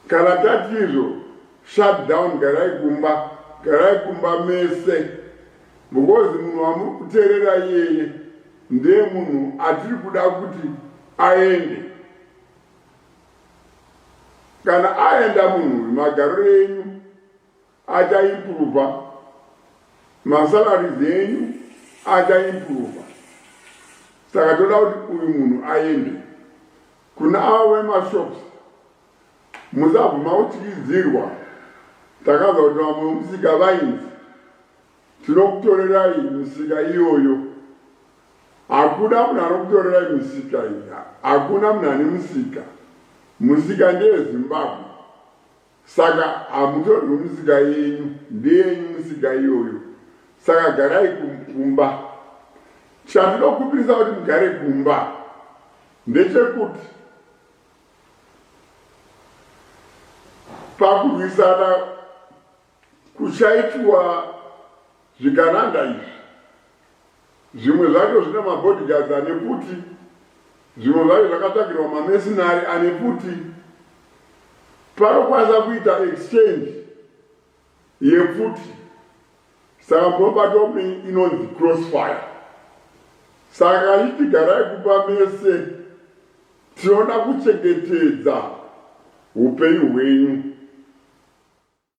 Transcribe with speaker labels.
Speaker 1: Kana tati izvo shut down garai kumba garai kumba mese because munhu wamuri kuterera iyeye ndee munhu atiri kuda kuti aende kana aenda munhu uyu magariro enyu acha improva masalaries enyu acha improva saka toda kuti uyu munhu aende kuna avo vemashops musabvuma kutyidzirwa takazwa kuti vamwe vemusika vainzi tinokutorerai misika iyoyo hakuna munhu anokutorerai misika iya hakuna munhu ane musika musika ndeyezimbabwe Saka hamutorwe musika yenyu ndeyenyu musika iyoyo saka garai kumba chandinokumbirisa kuti mugare kumba ndechekuti pakurwisana kuchaitiwa zvigananda izvi Zvimwe zvacho zvine mabodyguards ane pfuti, zvimwe zvacho zvakatsvagirwa mamesinari ane pfuti. Panokwanisa kuita exchange yepfuti, saka munobatwa mune inonzi crossfire. Saka iti garai kumba mese, tinoda kuchengetedza upenyu hwenyu.